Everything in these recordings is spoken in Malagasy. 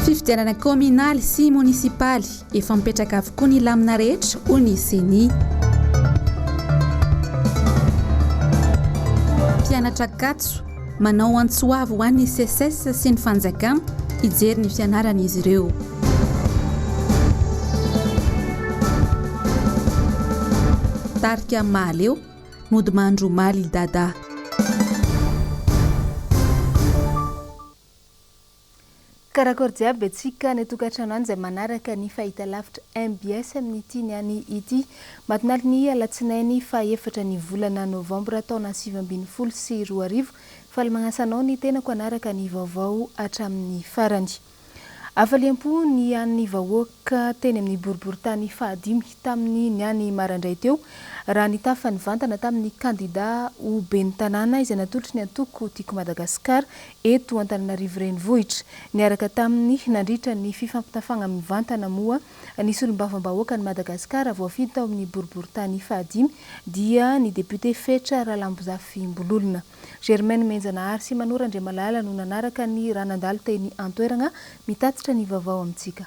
Fifidianana kaominaly sy monisipaly, efa mipetraka avokoa ny lamina rehetra, hoy ny ceni. Mpianatra Ankatso, manao antso avo ho an'ny Seces sy ny fanjakana, hijery ny fianarana izy ireo. Tarika Mahaleo, Mody mandry omaly i Dadah. Karakôry jiaby antsika any an-tokantrano any izay manaraka ny fahitalavitra mbs amin'ity ny any ity matinaly ny alatsinainy faha efatra ny volana novambra taona sivy ambin'ny folo sy roa arivo. Faly magnasa anao ny tenako hanaraka ny vaovao hatramin'ny farany. Hafaliam-po ny an'ny vahoaka teny amin'ny boriborintany fahadimy tamin'ny niany marandray teo, raha nitafa nivantana tamin'ny kandida ho ben'ny tanàna izay natolotry ny antoko Tiako Madagasikara eto Antananarivo Renivohitra. Niaraka taminy nandritra ny fifampitafagna mivantana moa ny solombavambahoakan'i Madagasikara voafidy tao amin'ny boriborintany fahadimy dia ny depiote Fetra Ralambozafimbololona. Germaine Menjanahary sy Manoa Randriamalala no nanaraka ny raha nandalo teny an-toeragna, mitatitra ny vaovao amintsika.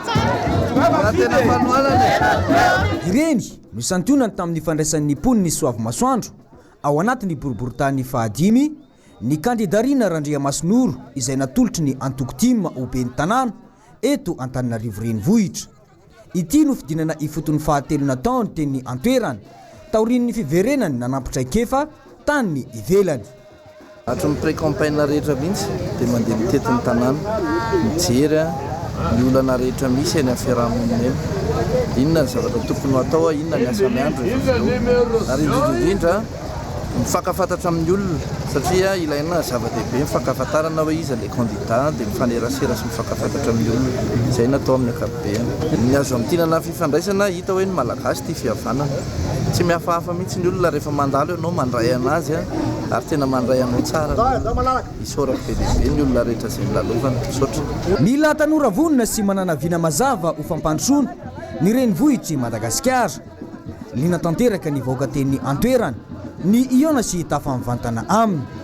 Ireny no isantionany tamin'ny fandraisan'ny mponin'i Soavimasoandro ao anatin'ny boriborintany fahadimy ny kandida Rina Randriamasinoro izay natolotry ny antoko tim ho ben'ny tanàna eto Antananarivo Renivohitra. Ity no fidinana ifotony fahatelo nataony teny an-toerana taorian'ny fiverenany nanampi-traikefa tany ivelany. Hatry ny pré-campagne rehetra mihitsy dia mandeha mitety ny tanàna, mijery ny olana rehetra misy eny amin'ny fiarahamonina eny. Inona ny zavatra tokony ho atao, inona ny asa miandry ny vaventy ary indrindra indrindra mifankafantatra amin'ny olona satria ilaina zava-dehibe ny fankahafantarana hoe iza ilay kandida dia mifanerasera sy mifankafantatra amin'ny olona. Izay no atao amin'ny ankapobeny. Ny azo amintinana fifandraisana hita hoe ny malagasy tia fihavanana. Tsy mihafahafa mihitsy ny olona rehefa mandalo ianao mandray anazy a! ary tena mandray anao tsara ny isaorako be dia be ny olona rehetra izay nilalovana. Misaotra. Mila tanora vonona sy manana vina mazava ho fampandrosoana ny renivohitr'i Madagasikara. Liana tanteraka ny vahoaka teny an-toerana, ny hihaona sy tafa mivantana aminy.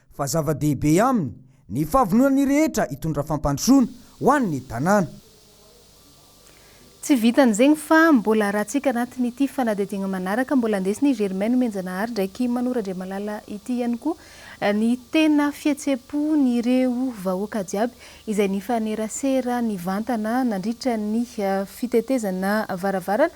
fa zava-dehibe aminy ny fahavononan'ny rehetra hitondra fampandrosoana ho an'ny tanàna. Tsy vitan'izegny fa mbola ratsika anatin'ity fanadihadiagna manaraka, mbola andesin'i i Germain Nomenjanahary ndraiky Mano Randriamalala ity ihany koa ny tena fihetseham-pon'ireo vahoaka jiaby izay nifanerasera nivantana nandritra ny fitetezana varavarana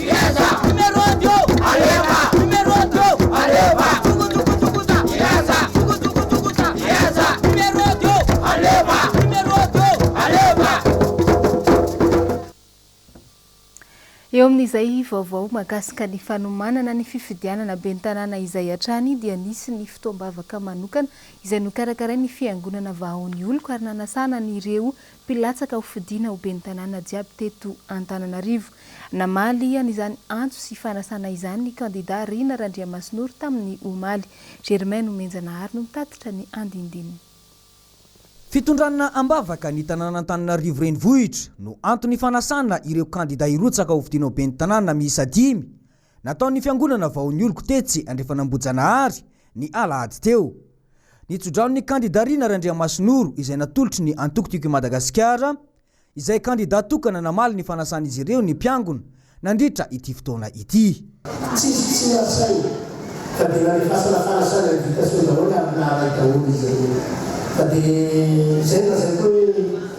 Eo amin'izay vaovao mahakasika ny fanomanana ny fifidianana ben'ny tanàna izay hatrany dia nisy ny fotoam-bavaka manokana izay nokarakarain'ny Fiangonana Vahaon'ny Oloko ary nanasana an'ireo Mpilatsaka ho fidiana ho ben'ny tanàna jiaby teto Antananarivo. Namaly an'izany antso sy fanasana izany ny kandidà Rina Randriamasinoro tamin'ny omaly. Germain Nomenjanahary no mitatitra ny andinindininy. Fitondrana am-bavaka ny tanàn'Antananarivo renivohitra no anton'ny fanasana ireo kandidà hirotsaka ho fidiana ho ben'ny tanàna miisa dimy Nataon'ny fiangonana vao nioloko tetsy Andrefan'Ambohijanahary, ny alahady teo. Ny tso-dranon'ny kandidà Rina Randriamasinoro izay natolotry ny antoko Tiako i Madagasikara, izay kandidà tokana namaly ny fanasan'izy ireo ny mpiangona nandritra ity fotoana ity. Tsisy tsy niantsaina ka dia nandefasana fanasana invitation daholo ary naharay daholo izy ireo. Fa dia izay no lazaiko hoe.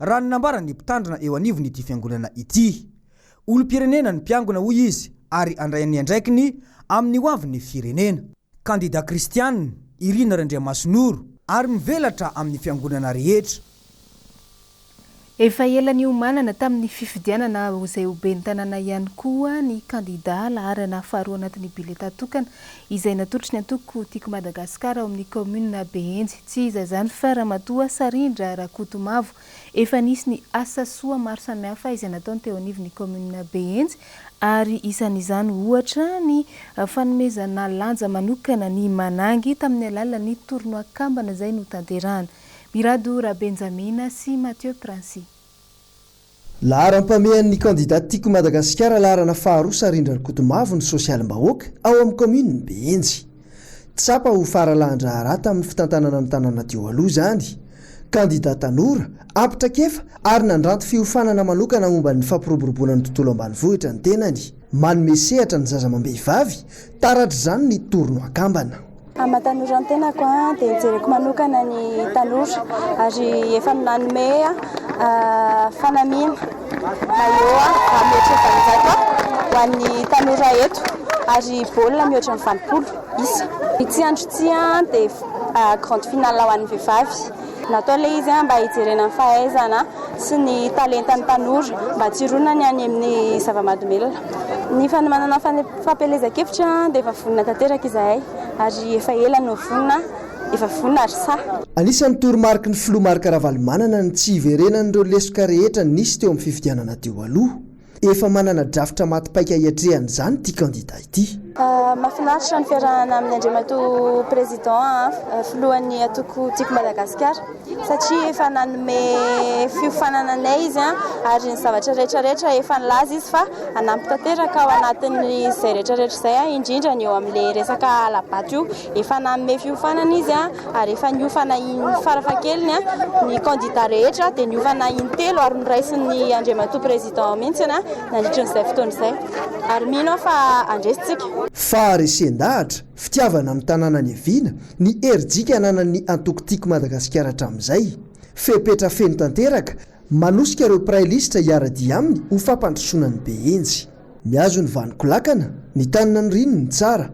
Raha ny nambaran'ny mpitandrina eo anivon'ity fiangonana ity. Olom-pirenena ny mpiangona hoy izy ary handray ny andraikiny amin'ny hoavin'ny firenena. Kandida kristiana i Rina Randriamasinoro ary mivelatra amin'ny fiangonana rehetra. Efa ela niomanana tamin'ny fifidianana ho izay ho ben'ny tanàna ihany koa ny kandida laharana faharoa anatin'ny bileta tokana izay natolotry ny antoko Tiako Madagasikara ao amin'ny kaominina Behenjy. Tsy iza izany fa Ramatoa Sarindra Rakotomavo. Efa nisy ny asa soa maro samihafa izay nataony teo anivon'ny kaominina Behenjy ary isan'izany ohatra ny fanomezana lanja manokana ny Manangy tamin'ny alalan'ny tournoi kambana izay notanterahana. Mirado Rabenjamina sy Mathieu Princy. Laharam-pamehan'ny kandida Tiako Madagasikara laharana faharoa Sarindra Rakotomavo ny sosialim-bahoaka ao amin'ny kaominin'i Behenjy. Tsapa ho faralahan-draharaha tamin'ny fitantanana ny tanàna teo aloha izany. Kandida tanora, ampy traikefa ary nandranto fiofanana manokana momba ny fampiroboroboana ny tontolo ambanivohitra ny tenany. Manome sehatra ny zaza amam-behivavy, taratr'izany ny tournoi kambana. Amin'ny maha-tanora ny tenako dia jereko manokana ny tanora ary efa nanome fanamiana maillot mihoatra ny valonjato ho an'ny tanora eto ary baolina mihoatra ny valopolo isa. Ity andro ity dia grande finale ho an'ny vehivavy. Natao ilay izy mba hijerena ny fahaizana sy ny talentan'ny tanora mba tsy hironany any amin'ny zava-mahadomelina. Ny fanomanana Fampielezan-kevitra dia efa vonona tanteraka izahay ary efa ela no vonona, efa vonona ary sahy. Anisan'ny toromariky ny filoha Marc Ravalomanana ny tsy hiverenan'ireo lesoka rehetra nisy teo amin'ny fifidianana teo aloha. Efa manana drafitra maty paika hiatrehana izany ity kandida ity. Mahafinaritra ny fiarahana amin'ny Andriamatoa Président an, filohan'ny antoko Tiako Madagasikara. satria efa nanome fiofanana anay izy ary ny zavatra rehetra rehetra efa nilaza izy fa hanampy tanteraka ao anatin'izay rehetra rehetra izay indrindra ny eo amin'ilay resaka hala-bato io. Efa nanome fiofanana izy ary efa niofana farafahakeliny ny kandida rehetra dia niofana intelo ary noraisin'ny Andriamatoa Président mihitsy nandritra an'izay fotoana izay ary mino aho fa handresy tsika. Faharesen-dahatra, fitiavana ny tanàna niaviana, Ny herijika ananan'ny antoko Tiako Madagasikara hatramin'izay, fepetra feno tanteraka, manosika ireo mpiray lisitra hiara-dia aminy ho fampandrosoana ny be hendry. Mihazo ny vaniko lakana, ny tany naniriany ny tsara.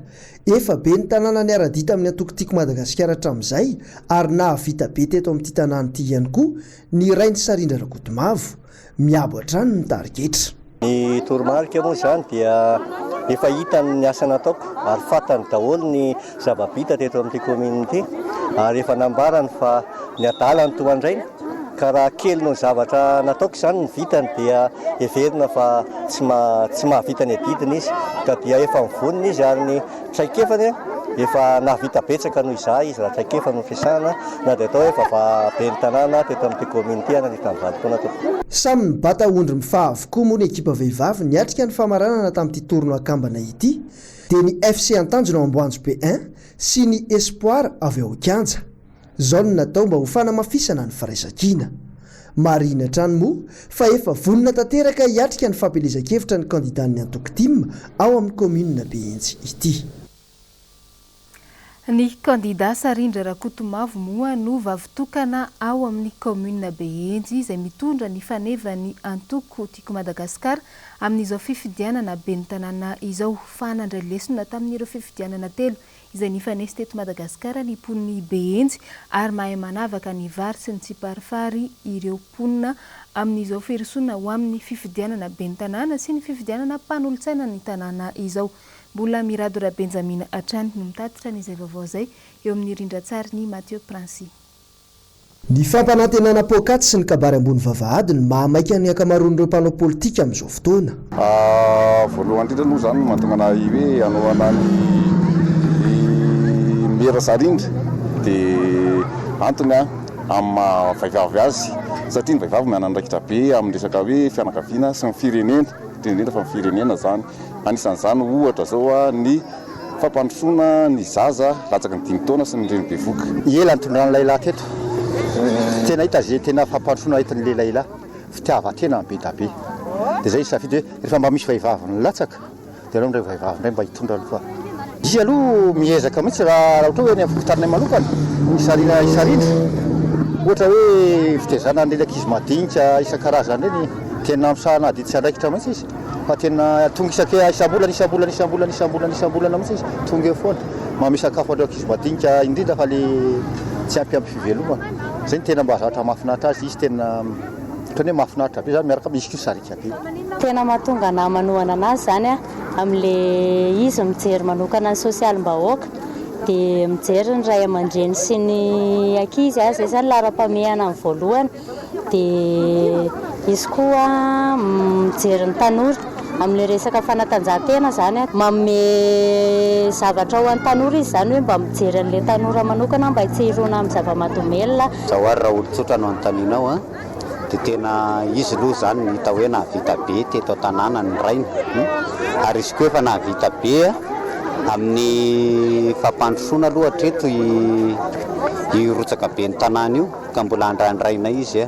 Efa be ny tanàna niara-dia tamin'ny antoko Tiako Madagasikara hatramin'izay ary nahavita be teto amin'ity tanàna ity ihany koa ny rain'i Sarindra Rakotomavo. Miabo hatrany ny tarigetra. Ny toromarika moa izany dia efa hitany ny asa nataoko ary fantany daholo ny zava-bita teto amin'ity commune ity ary efa nambarany fa ny adala no tohandraina ka raha kely noho ny zavatra nataoko izany ny vitany dia heverina fa tsy mahavita ny adidiny izy ka dia efa mivonona izy ary ny Traikefany efa nahavita betsaka noho izahay izy raha traikefa no fiasana na dia atao hoe vava ben'ny tanàna teto amin'ity kaominina ity ananivy tamin'ny valo taona tompoko. Samy nibata ondry mifaha avokoa moa ny ekipa vehivavy niatrika ny famaranana tamin'ity tournoi an-kambana ity dia ny FC Antanjona ao Amboanjobe I sy ny Espoir avy ao Kianja. Izao no natao mba ho fanamafisana ny firaisankina. Marihina hatrany moa fa efa vonona tanteraka hiatrika ny fampielezan-kevitra ny kandidàn'ny antoko tim ao amin'ny kaominina Behenjy ity. Ny kandidà Sarindra Rakotomavo moa no vavy tokana ao amin'ny kaominina Behenjy izay mitondra ny fanevan'ny antoko Tiako Madagasikara amin'izao fifidianana ben'ny tanàna izao fa nandray lesona tamin'ireo fifidianana telo izay nifanesy teto Madagasikara ny mponin'i Behenjy ary mahay manavaka ny vary sy ny tsiparifary ireo mponina amin'izao firosoana ho amin'ny fifidianana ben'ny tanàna sy ny fifidianana mpanolotsaina ny tanàna izao. Mbola Mirado Rabenjamina hatrany no mitatitra an'izay vaovao izay eo amin'ny rindran-tsarin'i Mathieu Princix. Ny fampanantenana poakaty sy ny kabary ambony vavahady no mahamaika ny ankamaroan'ireo mpanao politika amin'izao fotoana. Voalohany indrindra aloha izany no mahatonga anah i hoe hanohana an'i Mera Sarindry dia antony amin'ny maha vehivavy azy satria ny vehivavy manana andraikitra be amin'ny resaka hoe fianakaviana sy ny firenena indrindra indrindra fa ny firenena izany. Anisan'izany ohatra izao ny. fampandrosoana ny zaza latsaky ny dimy taona sy ny reny bevoka. Ela nitondrany lahilahy teto, tena hita ze tena fampandrosoana entiny le lahilahy, fitiavan-tena ny bedabe, de zay nisafidy hoe refa mba misy vahivavy nilatsaka de aleo ndray vahivavy ndray mba hitondra aloha fa. Izy aloha miezaka mihitsy raha ohatra hoe any am fokontaninay manokana ny sarina hisarindry ohatra hoe fitezana an'ireny ankizy madinika isan-karazany ireny, tena misahana adiditra andraikitra mihitsy izy. fa tena tonga isake isam-bolana isam-bolana isam-bolana isam-bolana isam-bolana mihitsy izy tonga eo foana manome sakafo an'ireo ankizy madinika indrindra fa le tsy ampy ampy fivelomana zay ny tena mba zatra mahafinaritra azy izy tena ohatran'ny hoe mahafinaritra be zany miaraka izy koa sariaka be tena mahatonga anah manohana anazy zany a amin'le izy mijery manokana ny sosialim-bahoaka dia mijery ny ray aman-dreny sy ny ankizy a zay zany laharam-pamehana ny voalohany Dia izy koa mijery ny tanora amin'ilay resaka fanatanjahantena izany. Manome zavatra ho an'ny tanora izy izany hoe mba mijery an'ilay tanora manokana mba tsy hirona amin'ny zava-mahadomelina. Izao ary raha olon-tsotra no anontanianao dia tena izy aloha izany no hita hoe nahavita be teto an-tanàna ny rainy. Ary izy koa efa nahavita be amin'ny fampandrosoana aloha hatreto io rotsaka ben'ny tanàna io. ka mbola andrandrainay izy,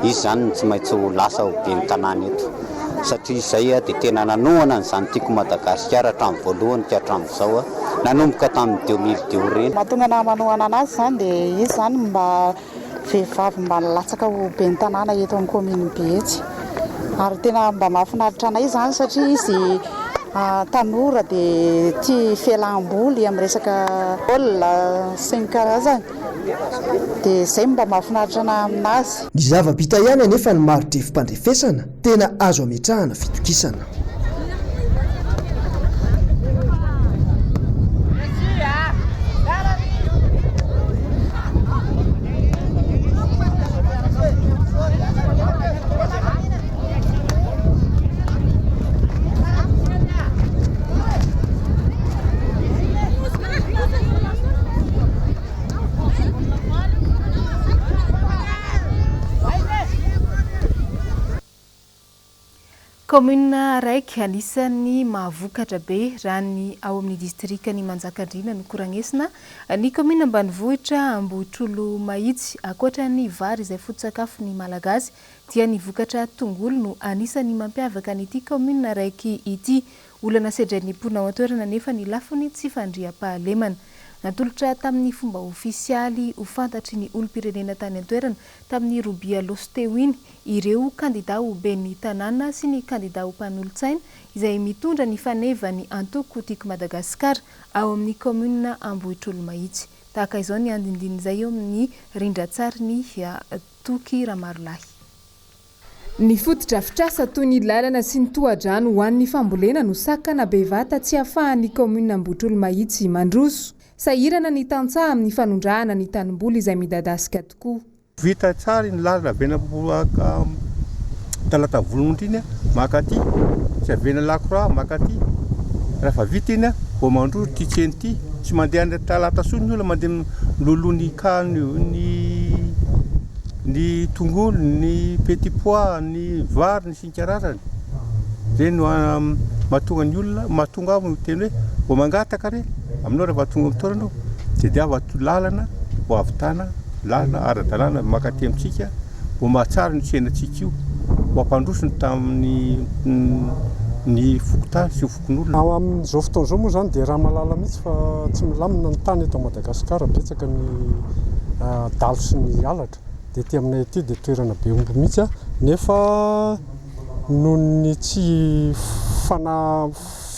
izy zany no tsy maintsy ho lasa ho ben'ny tanàna eto satria izay dia tena nanohana an'izany Tiako Madagasikara hatramin'ny voalohany ka hatramin'izao, nanomboka tamin'ny deux mille deux ireny. Mahatonga anah manohana an'azy izany dia izy izany mba vehivavy mba nilatsaka ho ben'ny tanàna eto amin'ny kaomininy Behetsy ary tena mba mahafinaritra anay izany satria izy tanora dia tia fialam-boly amin'ny resaka baolina sy ny karazany. Dia izay no mba mahafinaritra anahy amin'azy. Ny zava-bita ihany anefa ny mari-drefim-pandrefesana tena azo ametrahana fitokisana. Kaominina araiky anisan'ny mahavokatra be raha ny ao amin'ny distrikan'i Manjakandriana no koranesina ny kaominina ambanivohitra Ambohitrolomahitsy. Ankoatra ny vary izay foto-tsakafon'ny Malagasy dia ny vokatra tongolo no anisan'ny mampiavaka an'ity kaominina araiky ity. Olana sedrain'ny mponina ao an-toerana anefa ny lafiny tsy fandriampahalemana. Natolotra tamin'ny fomba ofisialy ho fantatry ny olom-pirenena tany an-toerana tamin'ny robia Aogositra teo iny ireo kandidà ho ben'ny tanàna sy ny kandidà ho mpanolotsaina izay mitondra ny faneva ny antoko Tiako Madagasikara ao amin'ny kaominina Ambohitrolomahitsy. Tahaka izao ny andinindin'izay eo amin'ny rindran-tsarin'i Toky Ramarolahy. Ny fotodrafitrasa toy ny lalana sy ny tohadrano ho an'ny fambolena no sakana bevata tsy afahan'ny kaominina Ambohitrolomahitsy mandroso. Sahirana ny tantsaha amin'ny fanondrahana ny tanimboly izay midadasika tokoa. Vita tsara iny lalana avy eny Ambohibaka Talata Volonondry iny maka aty sy avy eny Lakora maka aty. Rehefa vita iny vao mandroso ity tsena ity. Tsy mandeha any Talata intsony ny olona mandeha miloloha ny ny Ny tongolo, ny petit pois, ny vary, ny sy ny karazany. Ireny no mahatonga ny olona, mahatonga aho miteny hoe vao mangataka re, aminao raha vao tonga amin'ny toerana aho, tediavo ato lalana ho ahavitana lalana ara-dalàna maka aty amintsika, ho mahatsara ny tsenantsika io, ho ampandroso ny tamin'ny ny fokontany sy ny fokontany. Ao amin'izao fotoana izao moa izany dia raha mahalala mihitsy fa tsy milamina ny tany eto Madagasikara, betsaka ny dalo sy ny halatra, dia ety aminay ety dia toerana be omby mihitsy nefa noho ny tsy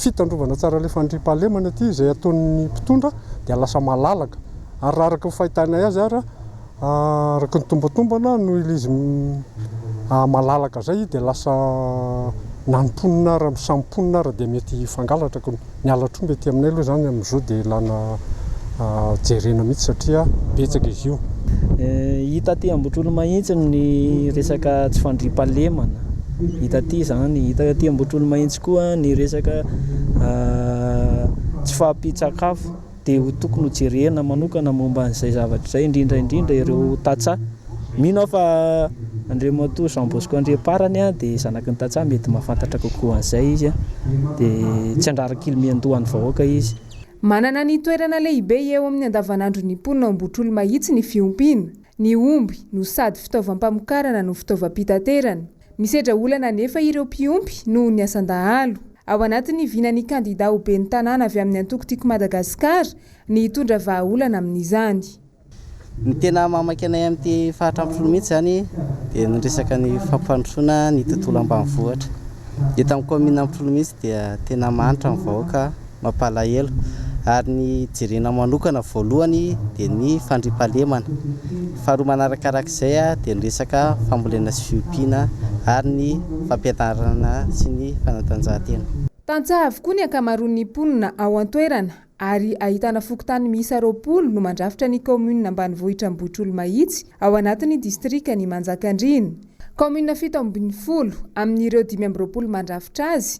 fitandrovana tsara ilay fandriampahalemana ety izay ataon'ny mpitondra dia lasa malalaka ary raha araka ny fahitanay azy ary Araka ny tombantombana noho ilay izy malalaka izay dia lasa na ny mponina ary ny samy mponina ary dia mety hifangalatra koa. Ny halatr'omby aty aminay aloha izany amin'izao dia ilana jerena mihitsy satria betsaka izy io. Hita aty Ambohitrolomahintsy ny resaka tsy fandriampahalemana, hita aty izany. Hita aty Ambohitrolomahintsy koa ny resaka tsy fahampian-tsakafo. dia ho tokony ho jerena manokana momba an'izay zavatra izay, indrindra indrindra ireo tantsaha. Mino aho fa Andriamatoa Jean Bosco Andriamparany dia zanaky ny tantsaha, mety mahafantatra kokoa an'izay izy, dia tsy handrara kily miandoha ny vahoaka izy. Manana ny toerana lehibe eo amin'ny andavanandron'ny mponina ao Ambohitrolo Mahitsy ny fiompiana. Ny omby no sady fitaovam-pamokarana no fitaovam-pitaterana. Misedra olana anefa ireo mpiompy noho ny asan-dahalo. Ao anatin'ny vinan'ny kandidà ho ben'ny tanàna avy amin'ny antoko Tiako Madagasikara ny hitondra vahaolana amin'izany. Ny tena mahamaika anay amin'ity faritra Ampifolo mihitsy izany dia ny resaka ny fampandrosoana ny tontolo ambanivohitra. Eto amin'ny kaominina Ampifolo mihitsy dia tena mahantra ny vahoaka mampalahelo ary ny jerena manokana voalohany dia ny fandriampahalemana, faharoa manarakarak'izay dia ny resaka fambolena sy fiompiana ary ny fampianarana sy ny fanatanjahantena. Tantsaha avokoa ny ankamaroan'ny mponina ao an-toerana ary ahitana fokontany miisa roapolo no mandrafitra ny kaominina ambanivohitra Ambohitrolomahitsy ao anatin'ny distrikan'i Manjakandriana. Kaominina fito ambin'ny folo amin'ireo dimy amby roapolo mandrafitra azy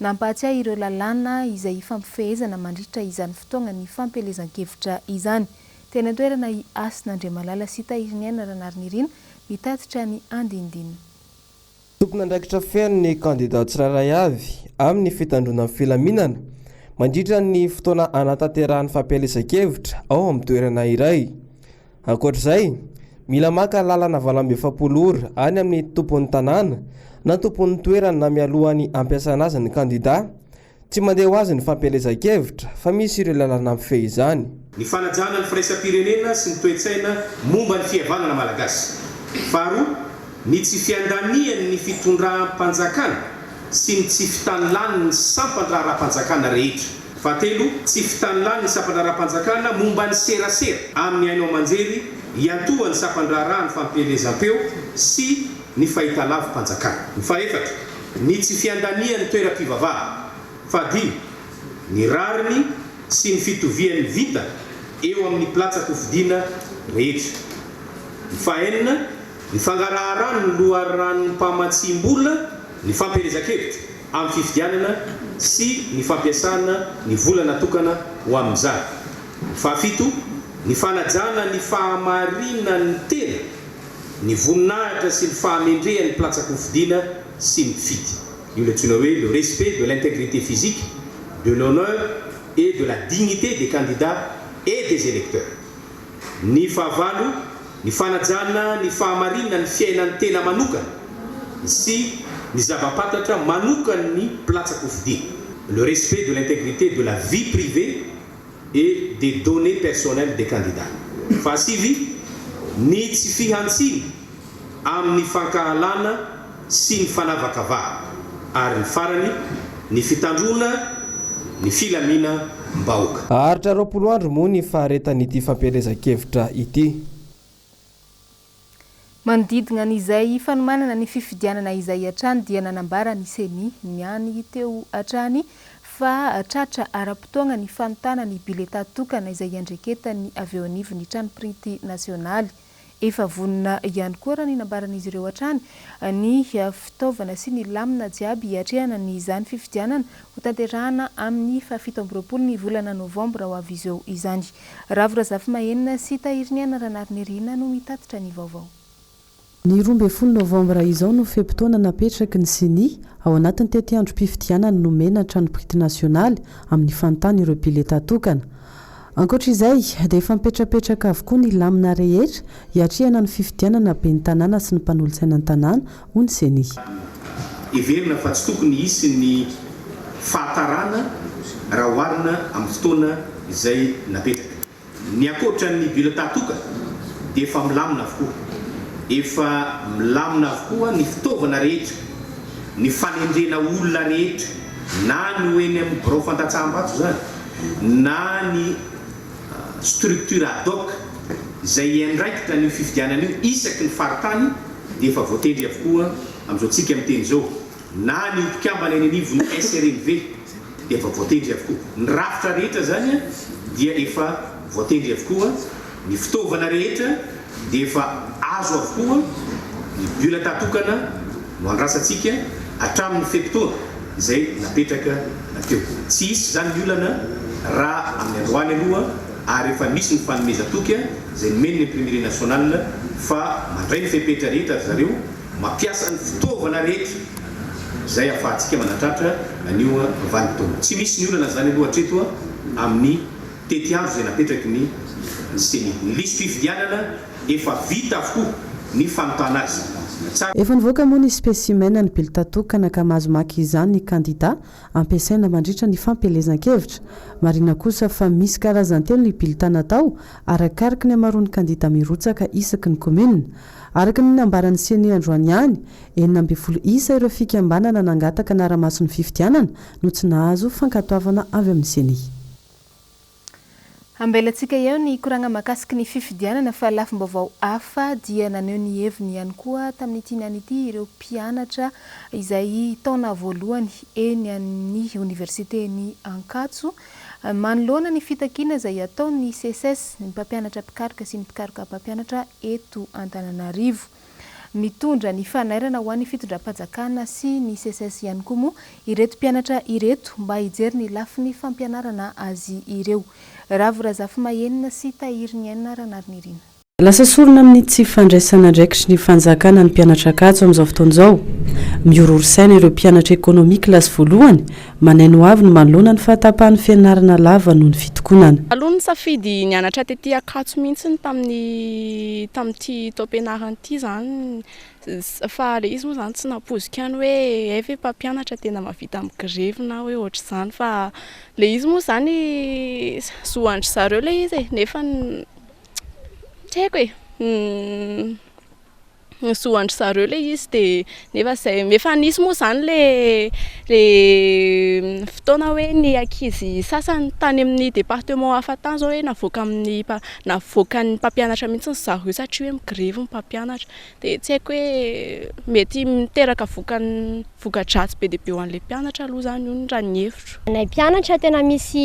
Nampahatsiahy ireo lalàna izay hifampifehezana mandritra izany fotoagna ny fampielezan-kevitra izany. Teny an-toerana i Hasina Andriamalala sy Tahiriniaina Ranarinirina mitatitra ny andinindininy. Tompon'andraikitra feno ny kandidà tsirairay avy amin'ny fitandroana ny filaminana mandritra ny fotoana hanatanterahany fampielezan-kevitra ao amin'ny toerana iray. Ankoatra izay, mila maka lalana valo amby efapolo ora any amin'ny tompon'ny tanàna na tompon'ny toerana mialohan'ny hampiasana azy ny kandidà. Tsy mandeha ho azy ny fampielezan-kevitra fa misy ireo lalana mifehy izany. Ny fanajana ny firaisam-pirenena sy ny toe-tsaina momba ny fihavanana malagasy. Faharoa, ny tsy fiandanian' ny fitondram-panjakana sy ny tsy fitanlan' ny sampan-draharaham-panjakana rehetra. Fahatelo, tsy fitany lany ny sampandraharaham-panjakana momba ny serasera amin'ny haino aman-jery iantohan'ny sampandraharahan'ny fampielezam-peo sy ny fahitalavi-panjakana. Fahefatra, ny tsy fiandanian'ny toeram-pivavahana. Fahadimy, ny rariny sy ny fitovian'ny vintana eo amin'ny mpilatsa-kofidina rehetra. Fahenina, ny fangaraharan'ny loharanom-pamatsiam-bola ny fampielezan-kevitra. amin'ny fifidianana sy ny fampiasana ny vola natokana ho amin'izany. Fahafito, ny fanajana ny fahamarinan'ny tena, ny voninahitra sy ny fahamendrehan'ny mplatsa-kofidina sy ny mpifidy. Io ilay antsoina hoe le respect de l'intégrité physique, de l'honneur et de la dignité des candidats et des électeurs. Ny fahavalo, ny fanajana ny fahamarinan'ny fiainan'ny tena manokana sy ny zava-pantatra manokan'ny mpilatsa-kofidina, le respect de l'intégrité de la vie privée et des données personnelles des candidats. Fahasivy, ny tsy fihantsiana amin'ny fankahalana sy ny fanavakavahana, ary ny farany, ny fitandroana ny filaminam-bahoaka. Haharitra roapolo andro moa ny faharetan'ity fampielezan-kevitra ity. Manodidina an'izay hifanomanana ny fifidianana izay hatrany dia nanambara ny Ceni, ny any teo hatrany, fa tratra ara-potoagna ny fanontana ny biletà tokana izay iandreketan'ny avy eo anivon'ny trano printy nasionaly. Efa vonona ihany koa, raha ny nambaran'izy ireo hatrany, ny fitaovana sy ny lamina jiaby hiatrehana ny izany fifidianana hotanterahana amin'ny fahafito amby roapolo ny volana novambra ho avy izao izany. Ravo Razafimahenina sy Tahiriniaina Ranariniryina no mitatitra ny vaovao. Ny roa ambin'ny folo novambra izao no fe-potoana napetraky ny Ceni, ao anatin'ny tetiandrom-pifidianana nomena ny Tranompirity Nasionaly amin'ny fanontana ireo bileta tokana. Ankoatra izay, dia efa mipetrapetraka avokoa ny lamina rehetra hiatrehana ny fifidianana ben'ny tanàna sy ny mpanolotsainan'ny tanàna, hoy ny Ceni. Heverina fa tsy tokony hisy ny fahatarana raha oharina amin'ny fotoana izay napetraka. Ny ankoatra ny bulletin toka dia efa milamina avokoa. Efa milamina avokoa ny fitaovana rehetra, ny fanendrena olona rehetra. na ny ho eny amin'ny birao fandatsaham-bato izany na ny structure ad hoc izay hiandraikitra an'io fifidianana io isaky ny faritany dia efa voatendry avokoa amin'izao tsika miteny izao, na ny ho mpikambana eny anivon'ny SRMV dia efa voatendry avokoa. Ny rafitra rehetra izany dia efa voatendry avokoa. Ny fitaovana rehetra dia efa azo avokoa, ny bulletin tokana no andrasantsika hatramin'ny fe-potoana izay napetraka teo. Tsy hisy izany ny olana raha amin'ny androany aloha ary efa misy ny fanomezan-toky izay nomen'ny Imprimerie Nationale fa mandray ny fepetra rehetra ry zareo, mampiasa ny fitaovana rehetra izay ahafahantsika manatratra an'io vanim-potoana. Tsy misy ny olana izany aloha hatreto amin'ny. Tety avy izay napetraky ny Ceni. Ny lisitry fifidianana efa vita avokoa ny fanotana azy. Efa nivoaka moa ny specimen ny bulletin tokana ka mahazo maka izany ny kandida ampiasaina mandritra ny fampielezan-kevitra. Marihina kosa fa misy karazany telo ny bulletin natao arakaraky ny hamaroan'ny kandida mirotsaka isaky ny commune. Araka ny nambaran'ny Ceni androany ihany, enina ambin'ny folo isa ireo fikambanana nangataka hanara-maso ny fifidianana no tsy nahazo fankatoavana avy amin'ny Ceni. Ambelantsika eo ny koragna mahakasiky ny fifidianana fa lafim-baovao hafa dia naneho ny heviny ihany koa tamin'ity ny anio ity ireo mpianatra izay taona voalohany eny amin'ny oniversiten'i Ankatso manoloana ny fitakiana izay ataon'ny Seces, ny mpampianatra mpikaroka sy ny mpikaroka mpampianatra eto Antananarivo. Mitondra ny fanairana ho an'ny fitondram-pajakana sy ny Seces ihany koa moa ireto mpianatra ireto mba hijery ny lafiny fampianarana azy ireo. Ravo Razafimahenina sy Tahiriniaina Ranariniaina. Lasa sorona amin'ny tsy fandraisana andraikitry ny fanjakana ny mpianatra Ankatso amin'izao fotoana izao. Mihorohoro saina ireo mpianatra Economie classe voalohany Manain'ny hoavy ny malona ny fahatapahan'ny fianarana lava noho ny fitokonana. Taloha nisafidy nianatra tety Ankatso mihitsy ny tamin'ny tamin'ity taom-pianarana ity izany fa ilay izy moa izany tsy nampoiziko ihany hoe hay ve mpampianatra tena mahavita mi-grevy na hoe ohatr'izany fa ilay izy moa izany zo an-dry zareo ilay izy e, nefa tsy haiko e. zo an-dry zareo ilay izy dia nefa izay efa nisy moa izany ilay ilay fotoana hoe ny ankizy sasany tany amin'ny département hafa tany izao hoe navoaka amin'ny mpa- navoakan'ny mpampianatra mihitsy ry zareo satria hoe mi-grevy ny mpampianatra dia tsy haiko hoe mety miteraka vokany voka-dratsy be dia be ho an'ilay mpianatra aloha izany io ny raha ny hevitro. Ho anay mpianatra tena misy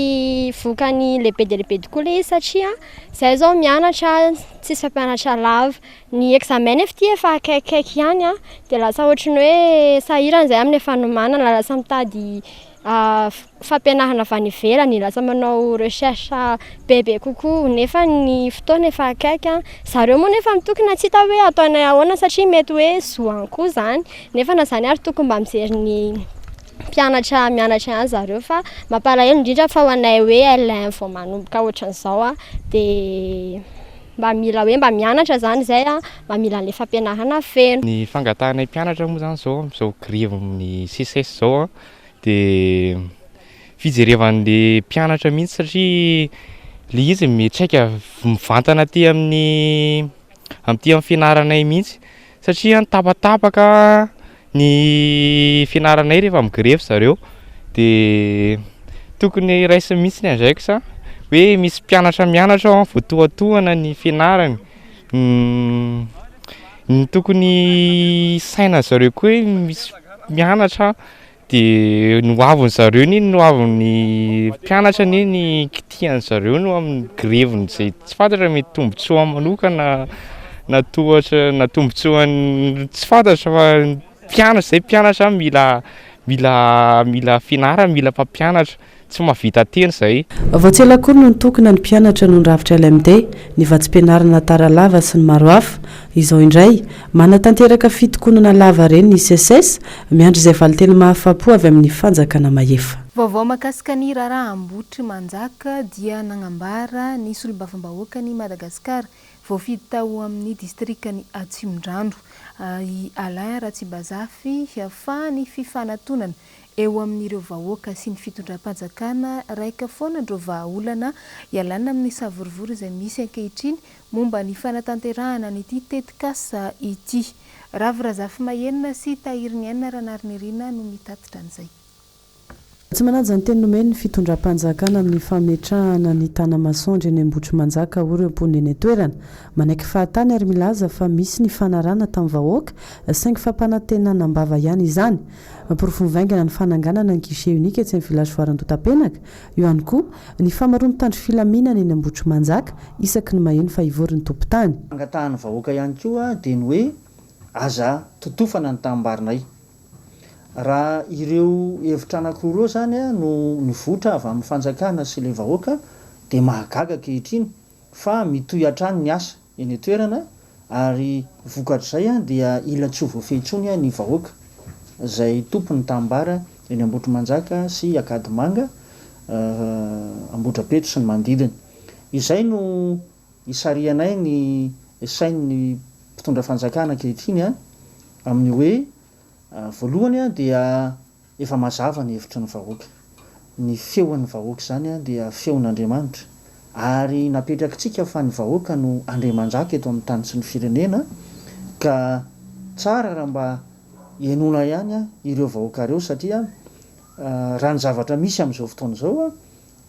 vokany lehibe dia lehibe tokoa ilay izy satria izahay izao mianatra tsisy mpampianatra lava. Ny examen nefa ity efa akaikikaiky ihany an, dia lasa ohatry ny hoe sahirana izay amin'ny efa nomanana, lasa mitady fampianarana avy any ivelany, lasa manao recherche bebe kokoa, nefa ny fotoana efa akaiky an, zareo moa nefa mitokona tsy hita hoe ataonay ahoana satria mety hoe zo any koa izany, nefa na izany ary tokony mba mijery ny mpianatra mianatra ihany zareo fa mampalahelo indrindra fa ho anay hoe LEM vao manomboka ohatran'izao an, dia. Mba mila hoe mba mianatra izany izay an, mba mila an'ilay fampianarana feno. Ny fangatahanay mpianatra moa izany izao amin'izao grevin'ny Seces izao an, dia fijerevan'ilay mpianatra mihitsy satria ilay izy miantraika mivantana aty amin'ny amin'ity amin'ny fianaranay mihitsy. satria an tapatapaka ny fianaranay rehefa migrevy zareo de tokony raisiny mihitsy ny index a hoe misy mpianatra mianatra ao an voatohatohana ny fianarany ny tokony hisaina zareo koa hoe misy mianatra Dia ny hoavin'ny zareo anie, ny hoavin'ny mpianatra anie ny kitihan'ny zareo no amin'ny greviny izay tsy fantatra mety tombontsoa manokana na tohatra na tombontsoan'ny tsy fantatra fa mpianatra izay mpianatra mila mila mila fianarana, mila mpampianatra. Tsy mahavita teny izay. Vao tsy ela akory no nitokona ny mpianatra noho ny rafitra LMD, ny vatsim-pianarana tara lava sy ny maro hafa. Izao indray, manatanteraka fitokonana lava re ny Seces, miandry izay valinteny mahafapo avy amin'ny fanjakana mahefa. Vaovao mahakasika ny raharaha Ambohitrimanjaka dia nagnambara ny solombavambahoakan'i Madagasikara voafidy tao amin'ny distrikan'i Atsimondrano, i Alain Ratsibazafy, fa ny fifanatonana eo amin'ireo vahoaka sy ny fitondram-panjakana raika foana ndreo vahaolana ialana amin'ny savorovoro izay misy ankehitriny momba ny fanatanterahana an'ity tetikasa ity. Ravo Razafimahenina sy Tahiriniaina Ranariniaina no mitatitra an'izay. Tsy manaja ny teny nomen'ny fitondram-panjakana amin'ny fametrahana ny tanamasoandro eny Ambohitrimanjaka hoy ireo mponina eny an-toerana. Manaiky fahatany ary milaza fa misy nifanarahana tamin'ny vahoaka saingy fampanantenana am-bava ihany izany. Porofo mivaingana ny fananganana ny Guichet Unique etsy amin'ny Village Foire Andohatapenaka, eo ihany koa, ny famaroan'ny mpitandro filaminana eny Ambohitrimanjaka isaky ny maheno fa hivory ny tompon-tany. Fangatahan'ny vahoaka ihany koa dia ny hoe aza totofana ny tanimbarinay. Raha ireo hevitra anankiroa ireo izany no nivoitra avy amin'ny fanjakana sy ilay vahoaka dia mahagaga ankehitriny fa mitohy hatrany ny asa. eny an-toerana ary vokatr'izay dia ila tsy ho voafehy intsony ny vahoaka izay tompon'ny tanimbary eny Ambohitrimanjaka sy Ankadimanga, Ambohidrapeto sy ny manodidina. Izay no isarihanay ny sain'ny mpitondra fanjakana ankehitriny amin'ny hoe, voalohany dia. Efa mazava ny hevitry ny vahoaka. Ny feon'ny vahoaka izany dia feon'Andriamanitra ary napetrakitsika fa ny vahoaka no andriamanjaka eto amin'ny tany sy ny firenena ka tsara raha mba henoina ihany ireo vahoaka ireo satria raha ny zavatra misy amin'izao fotoana izao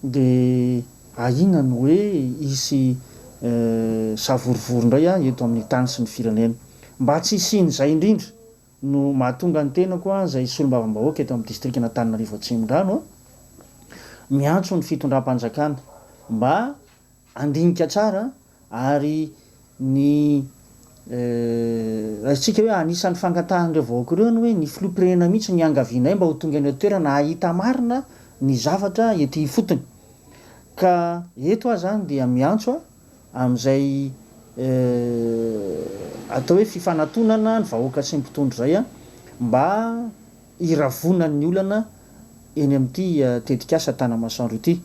dia ahiana ny hoe hisy savorovoro indray eto amin'ny tany sy ny firenena. Mba tsy hisian'izay indrindra. no mahatonga ny tenako izay solombavambahoaka eto amin'ny distrikan'Antananarivo Atsimondrano miantso ny fitondram-panjakana mba handinika tsara ary ny raisintsika hoe anisan'ny fangatahan'ireo vahoaka ireo ny hoe ny filoham-pirenena mihitsy no iangavianay mba ho tonga eny an-toerana hahita marina ny zavatra ety ifotony ka eto aho izany dia miantso aho amin'izay atao hoe fifanatonana ny vahoaka sy ny mpitondra izay mba hiravonan'ny olana eny amin'ity tetikasa Tanamasoandro ity.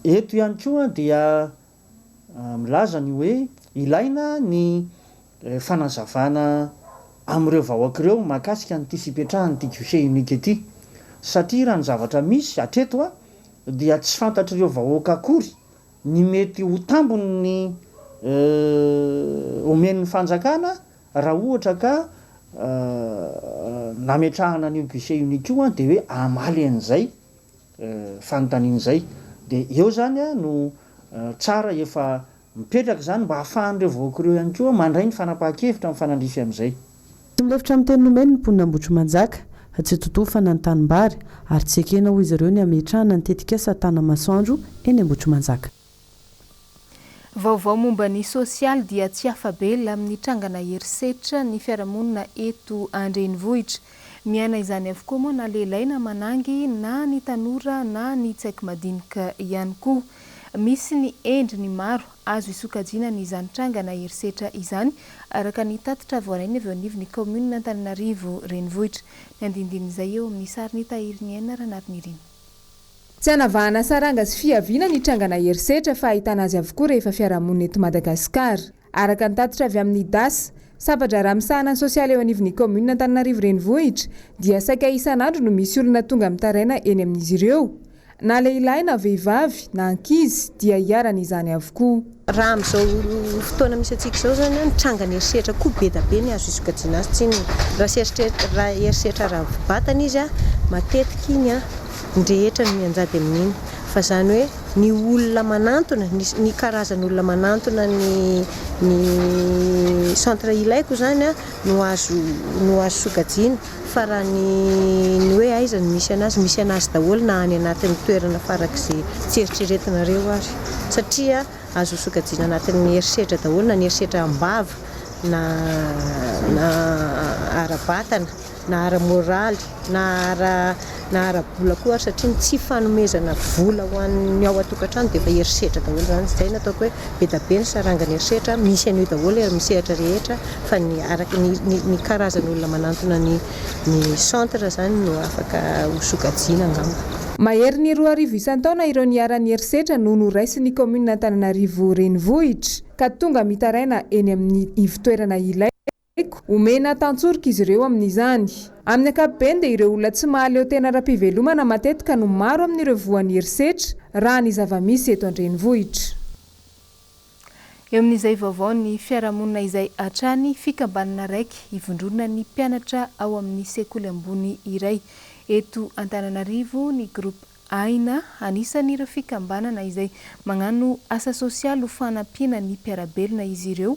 Eto ihany koa dia milaza ny hoe ilaina ny fanazavana amin'ireo vahoaka ireo mahakasika an'ity fipetrahan'ity guichet unique ity satria raha ny zavatra misy hatreto dia tsy fantatr'ireo vahoaka akory ny mety ho tambiny omen'ny fanjakana raha ohatra ka nametrahana an'io guichet unique io dia hoe hamaly an'izay fanontaniana izay. Dia eo izany no tsara efa mipetraka izany mba ahafahan'ireo vahoaka ireo ihany koa mandray ny fanapahan-kevitra mifanandrify amin'izay. Tsy milefitra amin'ny teny nomeny ny mponina Ambohitrimanjaka. Tsy totofana ny tanimbary ary tsy ekena hoy izy ireo ny hametrahana ny tetikasa Tanamasoandro eny Ambohitrimanjaka. Vaovao momba ny sosialy dia tsy afa-bela amin'ny trangana herisetra ny fiarahamonina eto an-drenivohitra. Miaina izany avokoa moa na lehilahy na manangy na ny tanora na ny tsaiky madinika ihany koa. Misy ny endriny maro Azo isokajiana ny izany tranga na herisetra izany, araka ny tatitra voarainy avy eo anivon'ny kaominina Antananarivo Renivohitra. Ny andinindin'izay eo amin'ny sarin'i Tahiriniaina Ranarinirin. Tsy hanavahana saranga sy fihaviana ny tranga na herisetra fa ahitana azy avokoa rehefa fiarahamonina eto Madagasikara. Araka ny tatitra avy amin'ny das, Sampan-draharaha misahana ny sosialy eo anivon'ny kaominina Antananarivo Renivohitra, dia saika isan'andro no misy olona tonga mitaraina eny amin'izy ireo, Na lehilahy na vehivavy, na ankizy, dia iharan' izany avokoa. Raha amin'izao fotoana misy antsika izao izany an, ny trangan'ny herisetra koa be da be ny azo isokajiana azy, tsy inona raha tsy raha herisetra ara-batana izy an, matetika iny an, ny rehetra no mianjady amin'iny, fa izany hoe ny olona manantona, ny ny karazan'olona manantona ny ny centre ilaiko izany an no azo no azo sokajiana. Fa raha ny ny hoe aiza no misy anazy, misy anazy daholo na any anatin'ny toerana farak'izay tsy eritreretinareo ary. Satria azo sokajiana anatin'ny herisetra daholo na ny herisetra am-bava na na ara-batana na ara-moraly na ara na ara-bola koa ary satria ny tsy fanomezana vola ho an'ny ao an-tokantrano dia efa herisetra daholo izany, izay no ataoko hoe be da be ny sarangan'ny herisetra, misy an'io daholo eo amin'ny sehatra rehetra fa ny araka ny ny karazan'olona manantona ny ny centre izany no afaka ho sokajiana angamba. Maherin'ny roa arivo isan-taona ireo niharan'ny herisetra no noraisin'ny kaominina Antananarivo Renivohitra ka tonga mitaraina eny amin'ny ivo-toerana ilaina, Eko, omena tantsoroka izy ireo amin'izany. Amin'ny ankapobeny dia ireo olona tsy mahaleo tena ara-pivelomana matetika no maro amin'ireo voan'ny herisetra, raha ny zava-misy eto an-drenivohitra. Eo amin'izay vaovaon'ny fiarahamonina izay hatrany, fikambanana raiky ivondronana ny mpianatra ao amin'ny sekoly ambony iray eto Antananarivo ny Groupe Aina, anisan'ireo fikambanana izay magnano asa sosialy ho fanampiana ny mpiara-belona izy ireo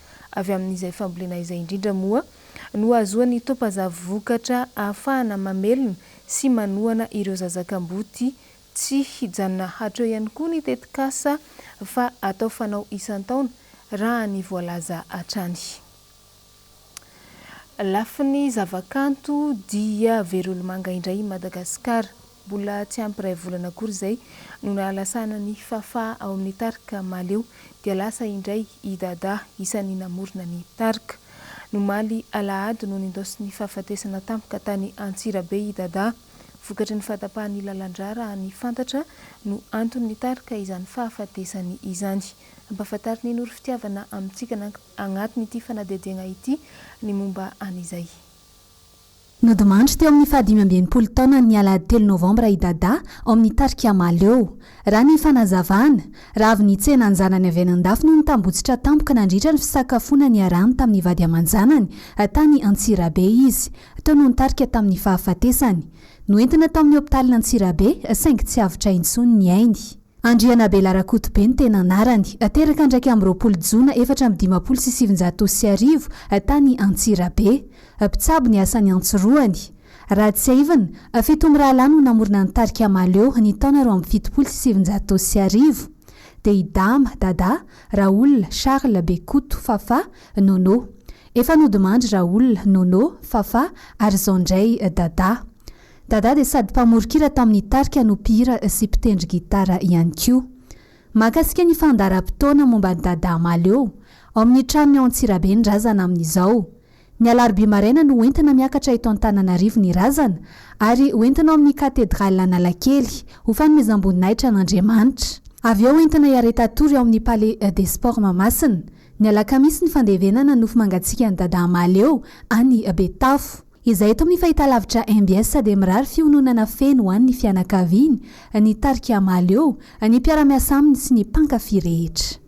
Avy amin'izay fambolena izay indrindra moa no hahazoan'ny Topazavy vokatra ahafahana mamelona sy manohana ireo zaza kamboty. Tsy hijanona hatreo ihany koa ny tetikasa fa atao fanao isan-taona raha ny voalaza hatrany. Lafiny zavakanto dia Verolimanga indray i Madagasikara. Mbola tsy ampy iray volana akory izay no nahalasana ny Fafa ao amin'ny tarika Mahaleo dia lasa indray i Dada isan'ny namorona ny tarika. Nomaly alahady no nindaosin'ny fahafatesana tampoka tany Antsirabe i Dada. Vokatry ny fahatapahan'ny lalandrà raha ny fantatra no antony nitarika izany fahafatesany izany. Ampahafantarin'i Noro Fitiavana amintsika agnatin'ity fanadihadiagna ity ny momba an'izay. Nodimandry teo amin'ny fahadimy amby enimpolo taonany ny alahady telo novambra i Dada ao amin'ny tarika Mahaleo. Raha ny fanazavana, raha avy nitsena ny zanany avy any an-dafy no nitambotsitra tampoka nandritra ny fisakafoana niarahany tamin'ny vady aman-janany tany Antsirabe izy, toa no nitarika tamin'ny fahafatesany. Noentina tao amin'ny hopitaly Antsirabe saingy tsy avotra intsony ny ainy. Andrianabela Rakotobe ny tena anarany. Teraka andraika amby roapolo jona efatra amby dimampolo sy sivinjato sy arivo tany Antsirabe. Mpitsabo ny asany an-tsorohany. Raha tsiahivina, fito mirahalahy no namorona ny tarika Mahaleo ny taona roa amby fitopolo sy sivinjato sy arivo. Dia i Dama, Dada, Raoul, Charles, Bekoto, Fafà, Nono. Efa nodimandry Raoul, Nono, Fafà ary izao indray Dada. Dada dia sady mpamoron-kira tamin'ny tarika no mpihira sy mpitendry gitara ihany koa. Mahakasika ny fandaharam-potoana momba an'i Dada Mahaleo, ao amin'ny tranony ao Antsirabe ny razana amin'izao. Ny alarobia maraina no hoentina miakatra eto Antananarivo ny razana ary hoentina ao amin'ny Katedraly Analakely, ho fanomezam-boninahitra an'Andriamanitra. Avy eo hoentina hiareta-tory ao amin'ny Palais des Sports Mahamasina. Ny alakamisy ny fandevenana nofo mangatsiakan'i Dadah Mahaleo any Betafo. Izahay eto amin'ny fahitalavitra mbs dia mirary fihononana feno ho an'ny fianakaviany, ny tarika Mahaleo, ny mpiara-miasa aminy sy ny mpankafy rehetra.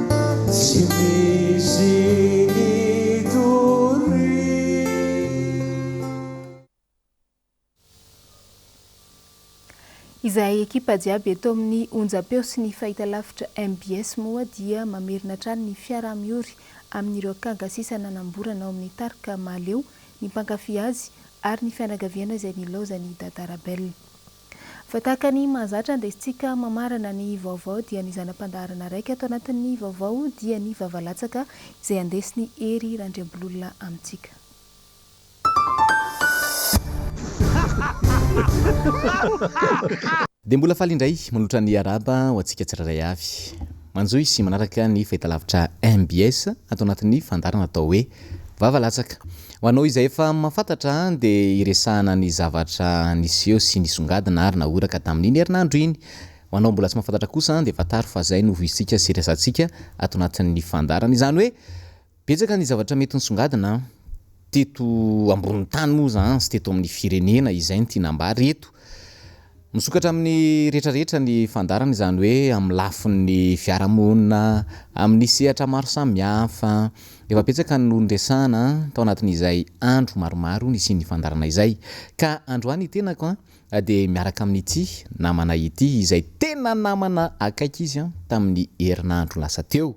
Tsy misy nitoriana. Izahay ekipa jiaby eto amin'ny onjam-peo sy ny fahitalavitra mbs moa dia mamerina hatrany ny fiaraha-miory amin'ireo kanga sisa nanamborana ao amin'ny tarika Mahaleo ny mpankafy azy ary ny fianakaviana izay nilaozan'i Dada Rabel. Fa tahaka ny mahazatra andesintsika mamarana ny vaovao dia ny zana-pandaharana raiky ato anatin'ny vaovao dia ny vavalatsaka izay andesin'i Hery Randriambololona amintsika. Dia mbola faly indray manotra ny Araba ho antsika tsirairay avy. Manjohy sy manaraka ny fahitalavitra mbs ato anatin'ny fandaharana atao hoe Vavalatsaka. Ho anao izay efa mahafantatra dia iresahana ny zavatra niseho sy nisongadina ary nahoraka tamin'iny herinandro iny. Ho anao mbola tsy mahafantatra kosa dia fantaro fa izay no voisintsika sy iresahantsika ato anatin'ny fandaharana. Izany hoe betsaka ny zavatra mety nisongadina teto ambonin'ny tany moa izany sy teto amin'ny firenena. Izay no tiana ambara eto. Misokatra amin'ny rehetra rehetra ny fandaharana, izany hoe amin'ny lafin'ny fiarahamonina, amin'ny sehatra maro samihafa. Efa betsaka no niresahana tao anatin'izay andro maromaro nisian'ny fandaharana izay. Ka androany tenako dia miaraka amin'ity namana ity, izay tena namana akaiky izy tamin'ny herinandro lasa teo.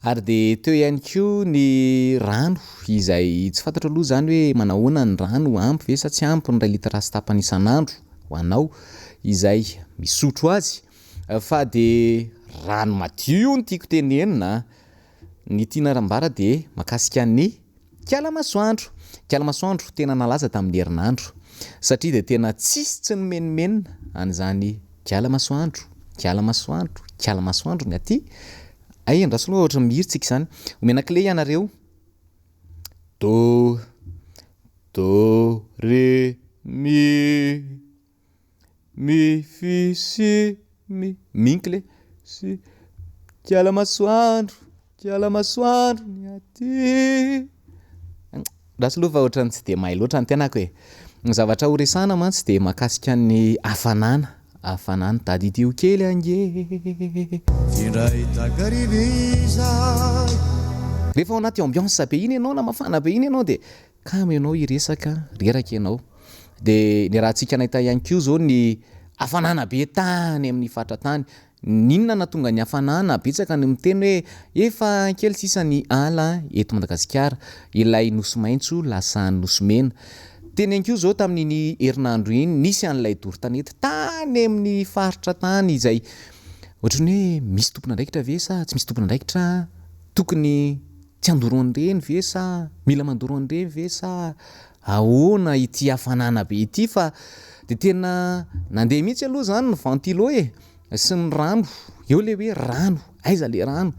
Ary dia teo ihany koa ny rano izay tsy fantatro aloha izany hoe manahoana ny rano, ampy ve sa tsy ampy ny iray litatra sy tapany isan'andro ho anao izay misotro azy. Fa dia rano madio no tiako tenenina an! Ny tiana ambara dia makasika ny. Kiala masoandro! Kiala masoandro tena nalaza tamin'ny herinandro satria dia tena tsisy tsy nomenomenona an'izany kiala masoandro, kiala masoandro, kiala masoandro ny aty. Hay andraso aloha ohatran'ny mihira tsika izany. Omena kle ianareo. Do, do, re, mi. Mi fi si mi minkle si Kiala masoandro kiala masoandro ny aty Ratsy loha fa ohatran'ny tsy dia mahay loatra ny tenako e Ny zavatra ho resahana mantsy dia mahakasika ny hafanana Hafanana Tadidio kely ange Indray takariva izahay Rehefa ao anaty ambiance be iny ianao na mafana be iny ianao dia Kamo ianao hiresaka, reraka ianao. Dia niarahantsika nahita ihany koa izao ny hafanana be tany amin'ny faritra tany. N'inona no nahatonga ny hafanana? Betsaka ny miteny hoe efa kely sisa ny ala eto Madagasikara. Ilay nosy maitso lasa nosy mena. Teny ihany koa izao tamin'iny herinandro iny nisy an'ilay doro tanety tany amin'ny faritra tany izay ohatran'ny hoe misy tompon'andraikitra ve sa tsy misy tompon'andraikitra tokony Tsy handoro an'ireny ve sa mila mandoro an'ireny ve sa ahoana ity hafanana be ity fa dia tena nandeha mihitsy aloha izany ny ventilo e! sy ny rano, eo ilay hoe rano, aiza ilay rano?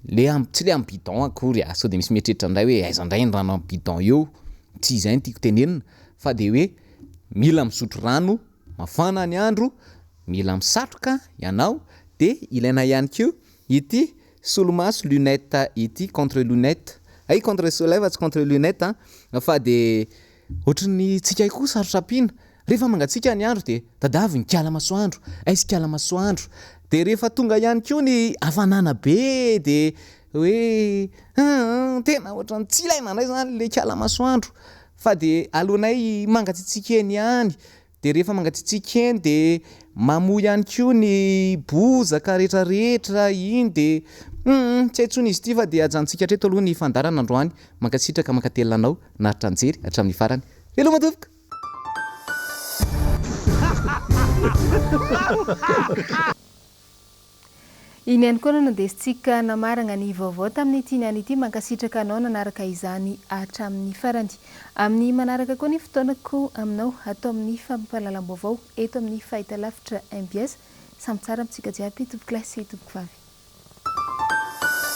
le am, tsy ilay amin'ny bidon akory a, sao dia misy mieritreritra indray hoe aiza indray ny rano amin'ny bidon eo? tsy izay no tiako tenenina fa dia hoe mila misotro rano, mafana ny andro, mila misatroka ianao dia ilaina ihany koa Ity solomaso lunette ity contre lunette ay contre soleil fa tsy contre lunette an! fa de ohatry ny tsy kay koa sarotra ampiana rehefa mangatsiaka ny andro de tadavy ny kala masoandro aizy kala masoandro de rehefa tonga ihany koa ny hafanana be de hoe hum tena ohatry ny tsy ilaina indray zany le kala masoandro fa de aleonay mangatsitsiaka eny ihany Dia rehefa mangatsiatsiaka eny dia mamoa ihany koa ny bozaka rehetra rehetra iny dia hum tsy hay intsony izy ity fa dia ajanontsika hatreto aloha ny fandaharana androany, mankasitraka mankatelina anao naharitra nijery hatramin'ny farany, veloma tompoko! Iny ihany koa no nondesintsika namaragna ny vaovao tamin'ity niany ity, mankasitraka anao nanaraka izany hatramin'ny farany. Amin'ny manaraka koa ny fotoanako aminao ato amin'ny fampahalalam-baovao eto amin'ny fahitalavitra mbs. Samy tsara amintsika jiaby tompokolahy sy tompokvavy.